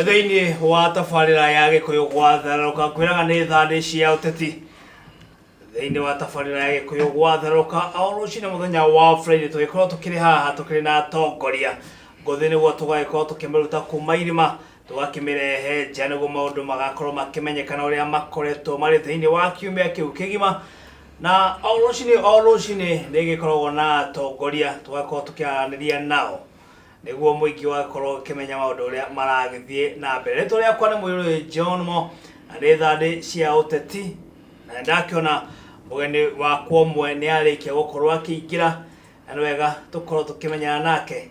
thĩinĩ wa tabarĩra ya gĩkũyũ gwatharũka kwĩraga nĩ thandĩ cia ũteti thĩinĩ wa tabarĩra ya gĩkũyũ gwatharũka o rũcinĩ mũthenya wa friday tũgĩkorwo tũkĩrĩ haha tũkĩrĩ na atongoria ngũthĩ nĩguo tũgagĩkorwo tũkĩmĩruta kuma irima tũgakĩmĩrehe nja nĩguo maũndũ magakorwo makĩmenyekana ũrĩa makoretwo marĩ thĩinĩ wa kiumia kĩu kĩgima na o rũcinĩ o rũcinĩ nĩ gĩkoragwo na atongoria tũgakorwo tũkĩaranĩria nao nĩguo mũingĩ ũgakorwo ũkĩmenya maũndũ ũrĩa maragĩthiĩ na mbere rĩtwa rĩakwa nĩ mũirũrĩ john mo na nĩ thandĩ cia ũteti na nĩ ndakĩona mũgeni wakwa ũmwe nĩ arĩkia gũkorwo akĩingĩra na nĩ wega tũkorwo tũkĩmenyana nake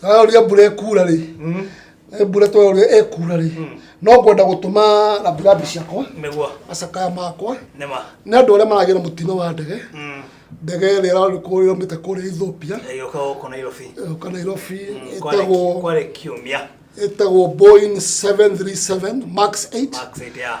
tũraria mbura ĩkuura rĩ mm. eh, mbura tũraria ĩkuura rĩ mm. no ngwenda gũtũma rambirambi ciakwa nĩguo macakaya makwa nĩma nĩ andũ arĩa maragĩra mũtino wa ndege mm. ndege ĩrĩa ĩromĩte kũrĩa Ethiopia ĩgĩũka gũkũ Nairobi ĩgĩũka Nairobi ĩtagwo kwarĩ kiumia ĩtagwo Boeing 737 Max 8 Max 8 yeah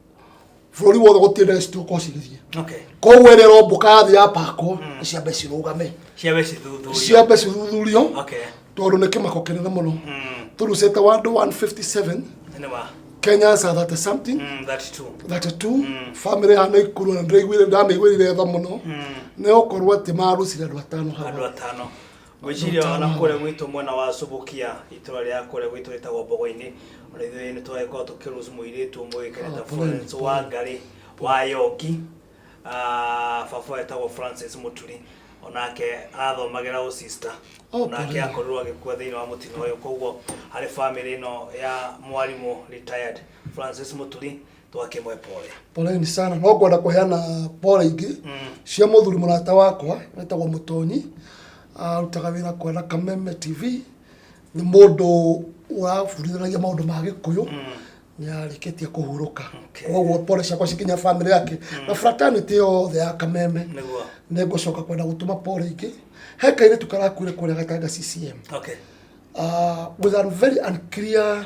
bũrũri wothe gũtirĩ na cituko cigĩthiĩ koguo ĩrĩa ĩrombũka yathi ya pakwo mm. ciambe cirũgame ciambe cithuthurio tondå nä kä mako kä nene må no tå rucä te wandå 157 kenyans are that something mm, that too. that too. Mm. family hana ikuru na ndiraiguire ndamĩiguire tha mũno mm. nĩ gũkorwo atĩ marucire andũ atano hawa ngwĩciria ona kũrĩa gwitũ mwena wa cubukia itũra rĩa kũrĩa gwitũ rĩtagwo mbogo-inĩ ona ithuĩ nĩ twagĩkorwo tũkĩrus mũirĩtu ũmwe wĩkanĩta florence wa ngarĩ wa yoki Ah, baba wetagwo francis mũturi onake arathomagĩra ũsista Oh, onake pole. akorirwo agĩkua thĩinĩ wa mũtino ũyũ koguo harĩ bamĩrĩ ĩno ya mwarimũ retired francis mũturi twake mwe pole poleni sana no ngwenda kũheana pole ingĩ cia mũthuri mũrata wakwa wetagwo mũtonyi arutaga wĩra kwa Kameme TV nĩ mũndũ ũraburithanagia maũndũ ma gĩkũyũ nĩ arĩkĩtie kũhurũka Okay. koguo pole ciakwa cikinya bamĩrĩ yake na fraternity yothe ya Kameme nĩguo nĩ ngũcoka kwenda gũtũma pole ingĩ he kairĩtu karakuire kũrĩa gatanga CCM okay uh, with a very unclear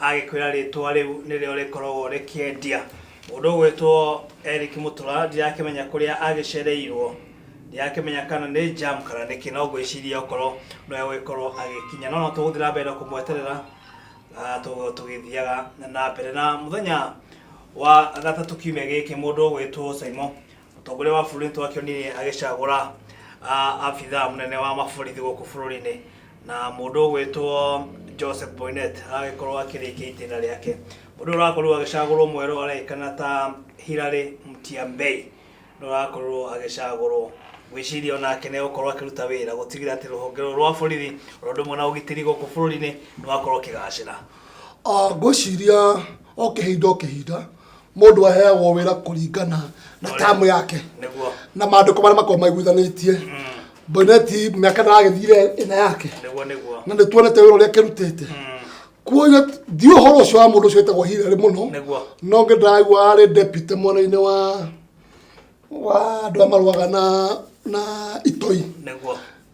Agĩkwĩra rĩtwa rĩu nĩrĩo rĩkoragwo rĩkĩendia. Mũndũ ũgwĩtwo Eric Mũtura ndirakĩmenya kũrĩa agĩcereirwo, ndirakĩmenya kana nĩ jam kana nĩkĩ, no ngwĩciria okorwo nĩwe ũgĩkorwo agĩkinya, no no tũgũthiĩ na mbere na kũmweterera ah, tũ- tũgĩthiaga na mbere na mũthenya wa gatatũ kiumia gĩkĩ mũndũ ũgwĩtwo Saimo Mũtongoria wa bũrũri nĩtwakĩonirie agĩcagũra ah, abithaa mũnene wa maborithi gũkũ bũrũri-inĩ na mũndũ ũgwĩtwo Joseph Boynet agagĩkorwo akĩrĩkia itĩna rĩake. Mũndũ ũyũ ũrakorirwo agĩcagũrwo mwerũ aragĩkana ta Hilary Mutyambei nĩwe ũrakorirwo agĩcagũrwo. Ngwĩciria onake nĩegũkorwo akĩruta wĩra gũtigĩrĩra atĩ rũhonge rũrũ rwa borithi oro ũndũ ũmwe na ũgitĩri gũkũ bũrũri-inĩ nĩwakorwo ũkĩgacĩra. Ah, Ngwĩciria o kĩhinda o kĩhinda mundu aheagwo wira kuringana na tamu yake niguo na mandiko maria makorwo maiguithanitie boneti miaka naragithire ina yake niguo niguo na nä tuonete wä ra å rä a kä rutete kuoguo ndiå horo å cio wa må ndå å cio wä tagwo hirarä må no niguo no ngä ndagua arä depute mwena-inä wa wa andå a marwaga na na itoi niguo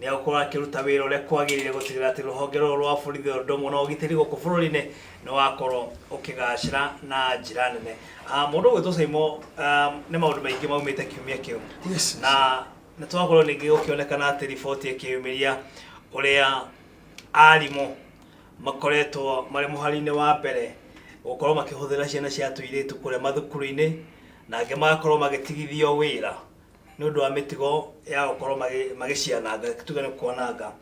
Nĩ egũkorwo akĩruta wĩra ũrĩa kwagĩrĩire gũtigĩrĩra atĩ rũhonge rũrũ rwa borithi o ũndũ ũmwe na ũgitĩri gũkũ bũrũri-inĩ nĩ wakorwo ũkĩgacĩra na njĩra nene. Ah, Mũndũ ũgwĩtwo Saimo ah, nĩ maũndũ maingĩ maumĩte kiumia kĩu Yes. na nĩ twakorwo ningĩ gũkĩonekana atĩ riboti ĩkĩyumĩria ũrĩa arimũ makoretwo marĩ mũhari-inĩ wa mbere gũkorwo makĩhũthĩra ciana cia tũirĩtu kũrĩa mathukuru-inĩ na angĩ magakorwo magĩtigithio wĩra nĩ ũndũ wa mĩtugo ya gũkorwo magĩ- magĩciananga tuge nĩ kwananga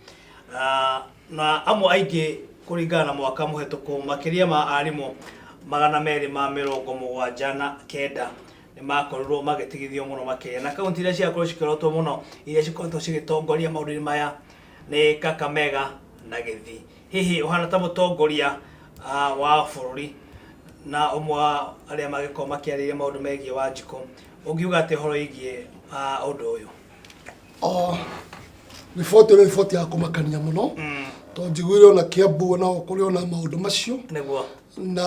Ah, na amwe aingĩ kũringana na mwaka mũhetũku makĩria ma arimũ magana merĩ ma mĩrongo mũgwanja na kenda nĩ makorirwo magĩtigithio mũno makĩria na kaunti iria ciakorwo cikĩrotwo mũno iria cikoretwo cigĩtongoria maũndũ-inĩ maya nĩ kakamega na gĩthii hihi ũhana ta mũtongoria ah, wa bũrũri na ũmwe wa arĩa magĩkorwo makĩarĩria maũndũ megiĩ wanjikũ ũngiuga atĩ ũhoro wĩgiĩ ah, ũndũ ũyũ Oh, riboti ĩno riboti ya kũmakania mũno tondũ njiguire ona kĩambu onao kũrĩ ona maũndũ macio nĩguo na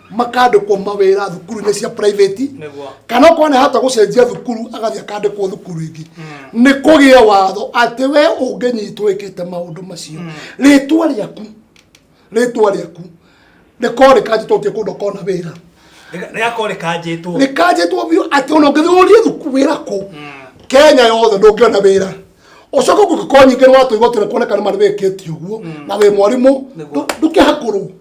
makandĩkwo mawĩra thukuru-inĩ cia private Nĩguo. kana okorwo nĩ hata gũcenjia thukuru agathiĩ akandĩkwo thukuru ĩngĩ nĩ kũgĩe watho atĩ we ũngĩnyitwo ĩkĩte maũndũ macio rĩtwa rĩaku rĩtwa rĩaku rĩkorwo rĩkanjĩtwo ũthiĩ kũndũ kona wĩra rĩgakorwo rĩkanjĩtwo rĩkanjĩtwo biũ atĩ ona ũngĩthiĩ ũrie thukuru wĩra kũ kenya yothe ndũngĩona wĩra ũcoke kũngĩkorwo nyingĩ nĩ watũigua tũrekuoneka nĩ marĩ wĩkĩtie ũguo na wĩ mwarimũ Nĩguo. ndũ- ndũkĩhakũrwo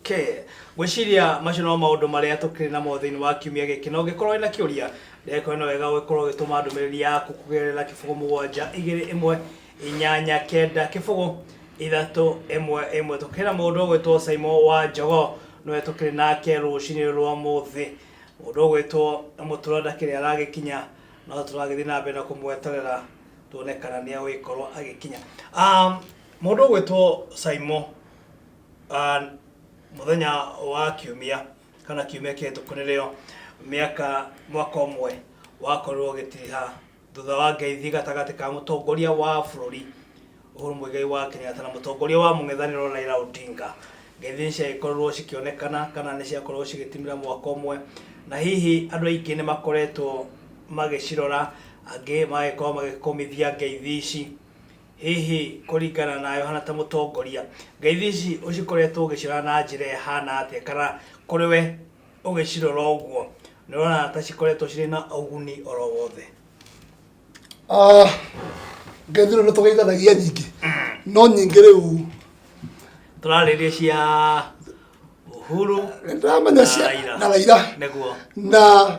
Okay. Ngwĩciria macio no maũndũ marĩa tũkĩrĩ namo thĩinĩ wa kiumia gĩkĩ na ũngĩkorwo wĩna kĩũria ndagĩkorwo nĩ wega ũgĩkorwo ũgĩtũma ndũmĩrĩri yaku kũgerera kĩbũgũ mũgwanja igĩrĩ ĩmwe inyanya kenda kĩbũgũ ithatũ ĩmwe ĩmwe tũkĩrĩ na mũndũ ũgwĩtwo Simon wa Njogo nĩwe tũkĩrĩ nake rũcinĩ rwa mũthĩ mũndũ ũgwĩtwo mũtura ndakĩrĩ aragĩkinya no tũragĩthiĩ na mbere na kũmweterera tuone kana nĩ agũgĩkorwo agĩkinya um, mũndũ ũgwĩtwo Simon Ah, muthenya wa kiumia kana kiumia kĩhĩtũku nĩrĩo mĩaka mwaka ũmwe wakorirwo ũgĩtiriha thutha wa ngeithi gatagatĩ ka mũtongoria wa bũrũri Uhuru Muigai wa Kenyatta na mũtongoria wa mũng'ethanĩro Raila Odinga ngeithi ciagĩkorirwo cikĩonekana kana nĩ ciakorirwo cigĩtimĩra mwaka ũmwe na hihi andũ aingĩ nĩ makoretwo magĩcirora angĩ magagĩkorwo magĩkũmithia ngeithi ici Hihi kũringana na Yohana ta mũtongoria, ngeithi ici ũcikoretwo ũgĩcirora na njĩra ĩhana atĩa? Kana kũrĩ we ũgĩcirora ũguo nĩ ũrona ta cikoretwo cirĩ na ũguni oro wothe? Ah, ngeithi rĩu nĩ tũgeithanagia nyingĩ no nyingĩ rĩu Tũrarĩrĩria cia Uhuru nĩ ndĩramenya na cia Raila. na Raila nĩguo na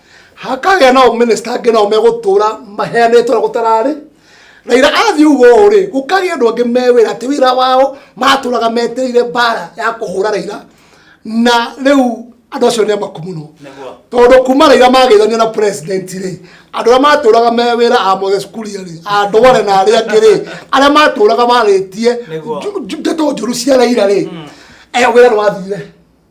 hakagĩa nao minista angĩ nao megũtũra maheanĩtwo na gũtararĩ raira athiĩ ũguo rĩ gũkagĩa andũ angĩ me wĩra atĩ wĩra wao matũraga metereire mbara ya kũhũra raira na rĩu andũ acio nĩ amaku mũno Nĩguo. tondũ kuma raira mageithania na president rĩ andũ arĩa matũraga me wĩra a moses kuria rĩ a ndware na arĩa angĩ rĩ arĩa matũraga marĩtie Nĩguo. ndeto njũru cia raira rĩ eh, wĩra nĩ wathire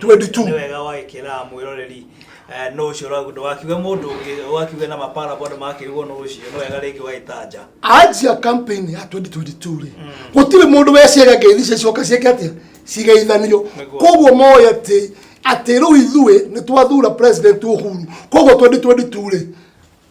22 nĩ wega wagĩkĩra mwĩroreri eh, no ũcio ũragu ndũgakiuge mũndũ ũngĩ ũgakiuge na mapara bado makĩrugwo no ũcio nĩ wega rĩngĩ ũgagĩtanja anjia campaign ya 2022 rĩ gũtirĩ mũndũ weciria ngeithi cia cioka cieke atia cigeithanio Nĩguo. koguo moĩ atĩ atĩ rĩu ithuĩ nĩ twathura president uhuru koguo 2022 rĩ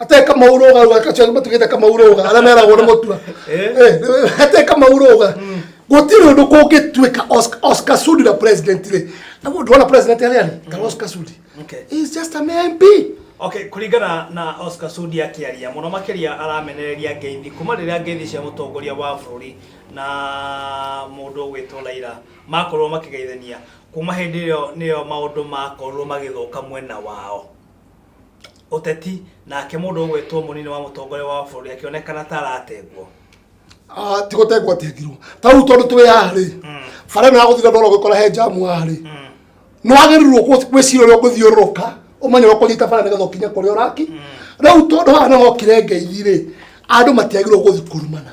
ate kamauroga uga kacio matugite kamauroga ara meragwo ni mutua Eh, ate kamauroga gutiri undu kungituika Oscar- Oscar Sudi na president ri na mundu wana president ari ari kana Oscar Sudi Okay. he is just a mere MP okay kuringana na oscar sudi akiaria muno makiria aramenereria ngeithi kuma riria ngeithi cia mutongoria wa bururi na mundu ugwitwo laira makorwo makigeithania kuma hindi iyo niyo maundu makorwo magithuka mwena wao Ũteti, Nake mũndũ ũgwĩtwo mũnini wa mũtongoria wa bũrũri akĩonekana ta aratengwo. Ah, ti gũtengwo atengirwo ta rĩu tondũ twĩ haha rĩ bara ĩno ya gũthiĩ ndora ũgĩkora he njamu haha rĩ nĩ wagĩrĩirwo kũ- gwĩciria ũrĩa ũgũthiũrũrũka ũmenye ũrĩa ũkũnyita bara nĩgetha ũkinye kũrĩa ũraki rĩu tondũ haha nĩho hokire ngeithi rĩ andũ matiagĩrĩirwo gũthiĩ kũrumana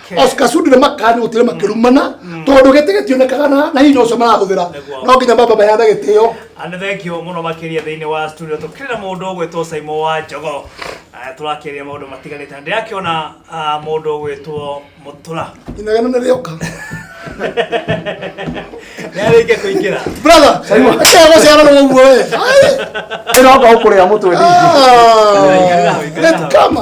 Oscar Sudi na makani utire makirumana tondu giti gitionekaga na na hinya ucio marahuthira Nĩguo. no nginya baba bayana gitio Andũ thengio mũno makĩria thĩinĩ wa studio tũkĩrĩ na mũndũ ũgwĩtwo Simon wa Njogo Ah, tũrakĩaria maũndũ matiganĩte na ndĩrakĩona ah, mũndũ ũgwĩtwo Mũtũra inagana na rioka nĩarĩkia kũingĩra brother akaya guciara no guo we Ĩroka ũkũrĩa mũtwe ndingi. Ah, Wĩkagĩra, wĩkagĩra. Let come.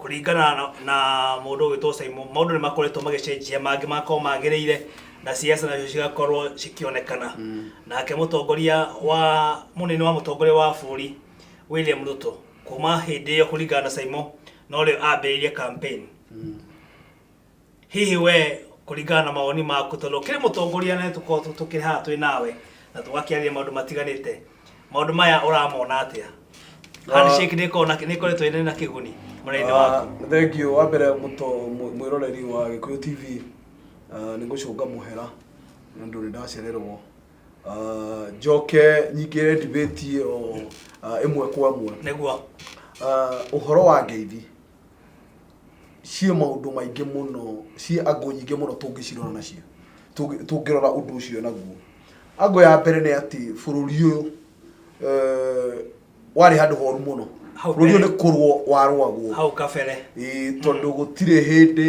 Kũringana na, na mũndũ ũgĩtwo Simon, maũndũ nĩ makoretwo magĩcenjia, mangĩ magakorwo magĩrĩire na ciaca nacio cigakorwo cikĩonekana. Nake mũtongoria wa mũnene wa mũtongoria wa bũrũri William Ruto, kuma hĩndĩ ĩyo kũringana na Simon, no rĩo ambĩrĩirie campaign. hihi we kũringana na mawoni maku tondũ ũkĩrĩ mũtongoria na tũkorwo tũkĩrĩ haha twĩ nawe na tũgakĩarĩria maũndũ matiganĩte maũndũ maya ũramona atĩa handshake nĩ ĩkoragwo na- nĩ ĩkoretwo ĩrĩ na kĩguni mwena-inĩ waku Ah, thengio wa mbere mũto mw- mwĩroreri wa gĩkũyũ tv ah, nĩ gũcũnga mũhera nĩ ũndũ nĩ ndacererwo Ah, njoke nyingĩre ndibĩti ĩyo ah, ĩmwe kwa ĩmwe nĩguo Ah, ũhoro wa ngeithi ciĩ maũndũ maingĩ mũno ciĩ angũ nyingĩ mũno tũngĩcirora nacio tũngĩ- tũngĩrora ũndũ ũcio naguo angũ ya mbere nĩ atĩ bũrũri ũyũ eh, warĩ handũ horu mũno Hau bũrũri ũyũ mbere. nĩ kũrwo warwagwo hau kabere Ĩĩ, tondũ gũtirĩ hĩndĩ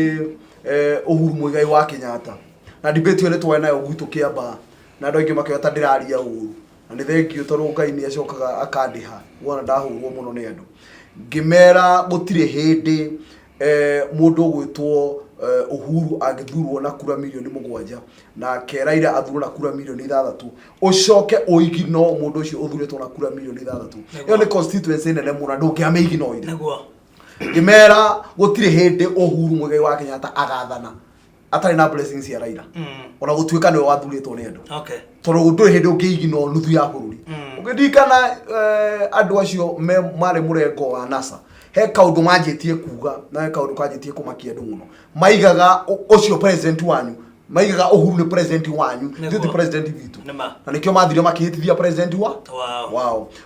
eh, ũhuru mũigai wa kenyatta na debate ĩyo nĩtwarĩ nayo gwitũ kĩambaa na andũ aingĩ makĩoya ta ndĩraria ũru na nĩ thengiũ tondũ Ngai nĩ acokaga akandĩha wona ndahũrwo mũno nĩ andũ ngĩmera gũtirĩ hĩndĩ eh, mũndũ ũgwĩtwo eh, Uhuru angĩthurwo na kura milioni mũgwanja nake Raila athurwo na kura milioni ithathatũ ũcoke ũigino mũndũ ũcio ũthurĩtwo na kura milioni ithathatũ ĩyo nĩ constituency nene mũno na ndũngĩamĩigina ũire ngĩmera gũtirĩ hĩndĩ Uhuru Muigai wa Kenyatta agathana atarĩ na blessings cia Raila Mm. ona gũtuĩka nĩwe wathurĩtwo nĩ andũ Okay. tondũ ndũrĩ hĩndĩ ũngĩigina o nuthu ya bũrũri Mm. ũngĩririkana eh, andũ acio me marĩ mũrengo wa nasa he kaũndũ manjĩtie kuga na he kaũndũ kanjĩtie kũmakia andũ mũno maigaga ũ- ũcio president wanyu maigaga ũhuru nĩ president wanyu Nĩguo. ithuĩ ti president witũ Nĩma. na nĩkĩo mathire makĩhĩtithia president wa Wow. wao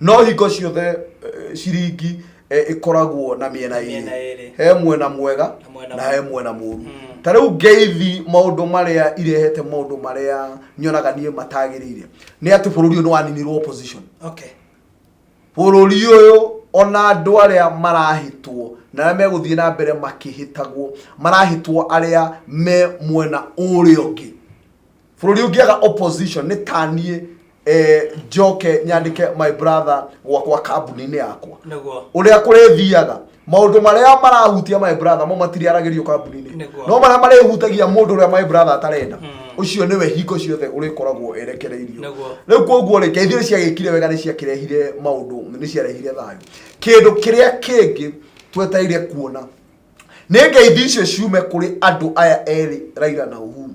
no hingo ciothe eh, ciringi eh, ĩkoragwo na mĩena Mĩena ĩrĩ ĩrĩ. he mwena mwega Na mwena na he mũru. mwena mũru Mm. ta rĩu ngeithi maũndũ marĩa irehete maũndũ marĩa nyonaga niĩ matagĩrĩire nĩ atĩ bũrũri ũyũ nĩ waninirwo opposition okay bũrũri ũyũ ona andũ arĩa marahĩtwo na arĩa megũthiĩ na mbere makĩhĩtagwo marahĩtwo arĩa me mwena ũrĩa ũngĩ bũrũri ũngĩaga opposition nĩ taniĩ eh, njoke nyandĩke my brother gwakwa kambuni-inĩ yakwa Nĩguo. ũrĩa kũrĩthiaga maũndũ marĩa marahutia my brother mo matiriaragĩrio kambuni-inĩ Nĩguo. no marĩa marĩhutagia mũndũ ũrĩa my brother atarenda ũcio nĩwe hingo ciothe ũrĩkoragwo erekereirio Nĩguo. rĩu koguo rĩ ngeithio ciagĩkire wega nĩ ciakĩrehire maũndũ nĩ ciarehire thayũ kĩndũ kĩrĩa kĩngĩ twetereire kuona nĩ ngeithi icio ciume kũrĩ andũ aya erĩ raira na uhuru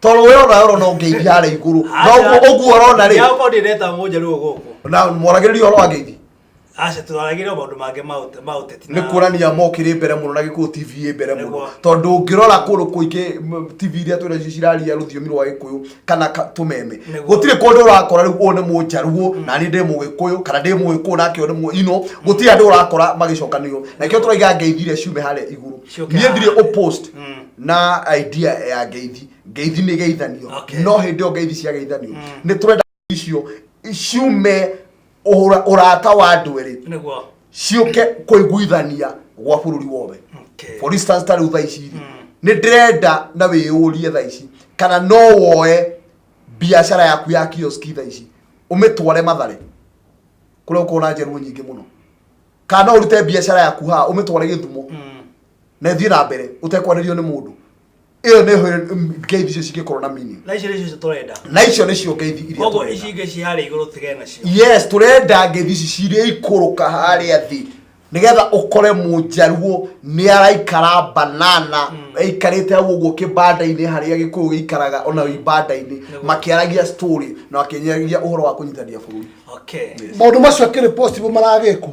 toro we ona oro no ngeithi ara iguru no ugu oro na ri yako ndi reta mu jeru ugu na moragiriri oro ageithi acha turaragire maundu mange maute maute ni kurania mokire mbere muno na giku tv mbere muno tondu ngirora kuru kuingi tv iria twira ciraria ruthiomi rwa gikuyu kana tumeme gutire kundu urakora riu one mu njaruo mm. na ni ndi mu gikuyu kana ndi mu gikuyu nake one mu ino gutire andu urakora magicokanio na kio turaiga ngeithire ciume hare iguru nie ndire upost mm. na idea ya ngeithi ngeithi nä geithanio Okay. no hä ndä ä yo ngeithi cia geithanio nä tå renda icio ciume ũra- ũrata wa andå erä niguo ciũke kũiguithania gwa bũrũri wothe Okay. for instance ta rĩu thaa ici rĩ nĩ ndĩrenda na wĩyũrie thaa ici kana no woe biacara yaku ya kioski thaa ici ũmĩtware mathare kũrĩa ũkorwo na njerwo nyingĩ mũno kana no ũrute biacara yaku haha ũmĩtware gĩthumo na ĩthiĩ na mbere ũtekwanĩrio nĩ mũndũ ĩyo nĩ hũ- m- ngeithi icio cingĩkorwo na meaning na icio nĩcio tũrenda na icio nĩcio ngeithi iria koguo tũrenda. ici ingĩ ciĩ harĩa igũrũ tigane nacio yes turenda ngethi ici cirĩa ikũrũka harĩa thĩ nigetha ũkore mũnjaruo nĩ araikara banana aikarĩte hau ũguo kĩbanda-inĩ harĩa gĩkũyũ gĩikaraga ona ibanda-inĩ makĩaragia story na makĩnyaragia ũhoro wa kũnyitania bũrũri okay maundu macio akiri possible maragikwo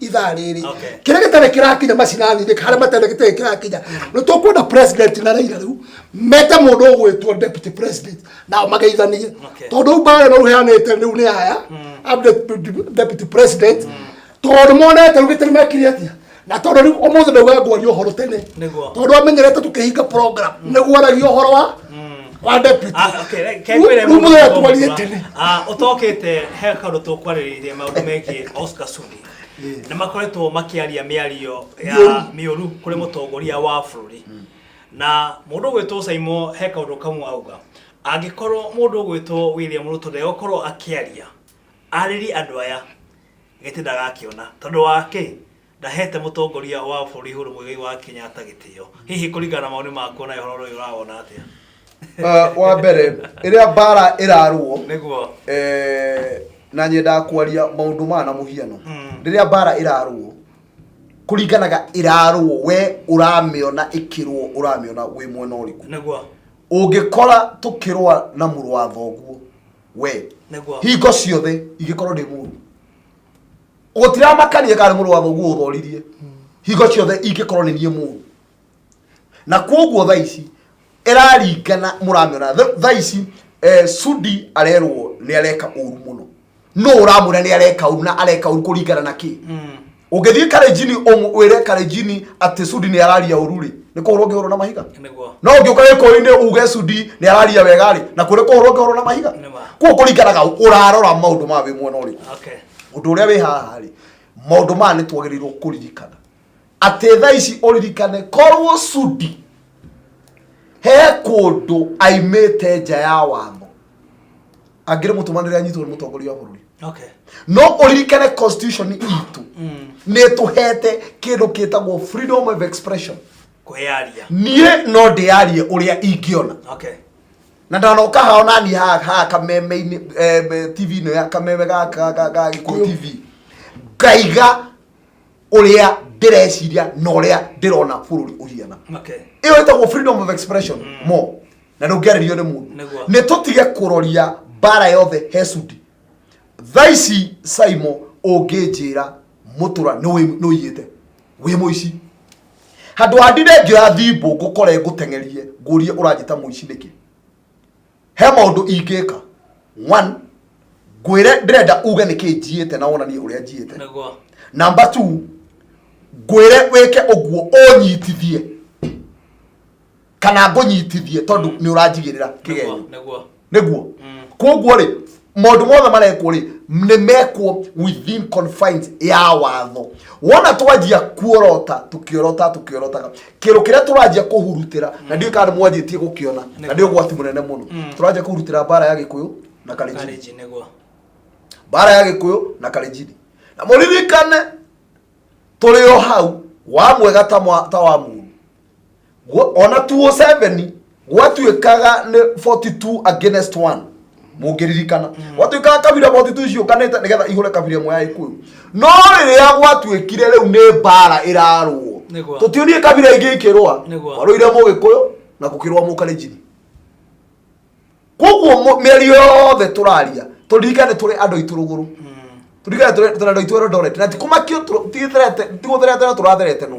ithaa rĩrĩ Okay. kĩrĩa gĩtarĩ kĩrakinya macinaninĩ harĩa matarĩ gĩtarĩ kĩrakinya nĩ tũkwenda president na raira rĩu mete mũndũ ũgwĩtwo deputy president nao mageithanie Okay. tondũ rĩu mbaara ĩno rũheanĩte rĩu nĩ aya ab- de- deputy president tondũ monete rĩu gĩtarĩ mekire atĩa na tondũ rĩu ũmũthĩ ndauga ngwaria ũhoro tene Nĩguo. tondũ amenyerete tũkĩhinga program nĩguo aragia ũhoro wa wa deputy Ah, okay, re- ke ngwĩre Rumu mũndũ ya ũmwe twarie wa- tene. Ah, ũtokĩte he kaũndũ tũkwarĩrĩirie maũndũ megiĩ Oscar Sudi nĩ makoretwo makĩaria mĩario ya Mĩũru. mĩũru kũrĩ mũtongoria wa bũrũri na mũndũ ũgwĩtwo Saimo he kaũndũ kamwe auga angĩkorwo mũndũ ũgwĩtwo William Ruto ndegũkorwo akĩaria arĩri andũ aya gĩtĩ ndagakĩona tondũ wa kĩ Ndaheete mũtongoria wa bũrũri Uhuru Muigai wa Kenyatta gĩtĩo. Hihi kũringana na mawoni maku nawe ũhoro ũyũ ũrawona atĩa? Ah, wa mbere ĩrĩa mbara ĩrarũo Nĩguo. eh, na nyendaga kwaria maũndũ maya na mũhiano Mm. rĩrĩa mbara ĩrarũo kũringanaga ĩrarũo we ũramĩona ĩkĩrũo ũramĩona wĩ mwena ũrĩkũ Nĩguo. ũngĩkora tũkĩrũa na mũrũ wa thoguo we Nĩguo. hingo ciothe ingĩkorwo ndĩ mũru gũtiramakanie kana mũrũ wa thoguo ũthoririe hingo ciothe ingĩkorwo nĩ niĩ mũru na kwoguo tha ici ĩraringana mũramĩona tha ici eh, sudi arerwo nĩ areka ũru mũno no ũramwĩra nĩ areka ũru na areka ũru kũringana na kĩ hmm. ũngĩthiĩ karejini wĩre karejini atĩ sudi nĩ araria ũru rĩ nä kå hå rwo ngä hå rwo na mahiga no å ngä å ka gä kå inä uge cudi nä araria wega rä na kå rä kå hå rwo ngä hå rwo na mahiga kuo kå ringanaga å rarora maå ndå ma wä mwena å rä kå Ũndũ ũrĩa wĩ haha-rĩ, maũndũ maya nĩ twagĩrĩirwo kũririkana. Atĩ thaa ici ũririkane korwo Sudi he kũndũ aimĩte nja ya watho, angĩrĩmũtũmanĩra anyitwo nĩ mũtongoria wa bũrũri. Okay. No ũririkane constitution itũ nĩ ĩtũhete kĩndũ kĩtagwo freedom of expression. Kwĩyaria. Niĩ no ndĩyarie ũrĩa ingĩona. Okay. na ndanoka hao nani ha ha kameme eh, tv ino ya kameme ga ga ga ga gikuyu tv ngaiga uria ndireciria na uria ndirona bururi uhiana okay iyo itagwo freedom of expression mo na ndungiaririo ni mundu Nĩguo. ni tutige kuroria bara yothe hecudi thaici saimo unginjira mutura ni uyiyite wĩ mũici handå ha ndire ngĩoya thimbũ ngũkore ngũteng'erie ngũrie ũranjĩta mũici nĩkĩ he maũndũ ingĩka one ngwĩre ndĩrenda uge nĩkĩ njiĩte na wonanie ũrĩa njiĩte Nĩguo. namba two ngwĩre wĩke ũguo ũnyitithie kana ngũnyitithie tondũ nĩ ũranjigĩrĩra kĩgenyo nĩguo mm. koguo rĩ maũndũ mothe marekwo rĩ nĩ mekwo within confines ya watho wona twanjia kuorota tũkĩorota tũkĩorotaga kĩrũ kĩrĩa tũranjia kũhurutĩra na mm. ndiũ kana nĩ mwanjĩtie gũkĩona na nĩ ũgwati mũnene mũno mm. tũranjia kũhurutĩra mbara ya gĩkũyũ na kalenjini mbara ya gĩkũyũ na kalenjini na mũririkane tũrĩ o hau wa mwega ta mwa- ta wa mũru Gwa- ona 207 gwatuĩkaga nĩ 42 against 1 mũngĩririkana gwatuĩkaga kabira 42 ciũkanĩte nĩgetha ihũre kabira ĩmwe ya ikuyu no rĩrĩa gwatuĩkire rĩu nĩ mbara ĩrarũo Nĩguo. tũtionie kabira ingĩ ikĩrũa Nĩguo. kwarũire mũgĩkũyũ na gũkĩrũa mũkalenjini koguo mĩeri yothe tũraria tũririkane tũrĩ andũ aitũ rũgũrũ turirikane tũrĩ andũ aitũ erondorete na tikumakio tigũtherete no tũratherete nũ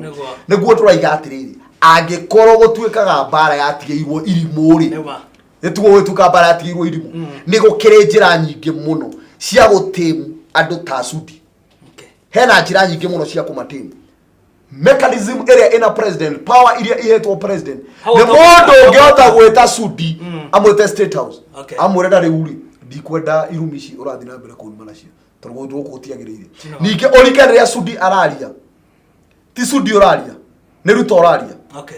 nĩguo tũraiga atĩrĩrĩ angĩkorwo gũtuĩkaga mbara yatigĩirwo irimũ-rĩ nĩtuo gũgĩtuĩka mbara yatigĩirwo irimũ mm. nĩ gũkĩrĩ njĩra nyingĩ mũno cia gũtĩmu andũ ta cudi hena njĩra nyingĩ mũno cia kũmatĩmu mechanism ĩrĩa ĩna president power iria ihetwo president Hau nĩ to- mũndũ ũngĩhota gwĩta sudi amwĩte state house Okay. amwĩre na rĩu rĩ ndikwenda irumi ici ũrathiĩ na mbere kũruma nacio tondũ gũkũ gũkũ gũtiagĩrĩire No. ningĩ ũrike rĩrĩa sudi araria ti sudi ũraria nĩ ruto ũraria okay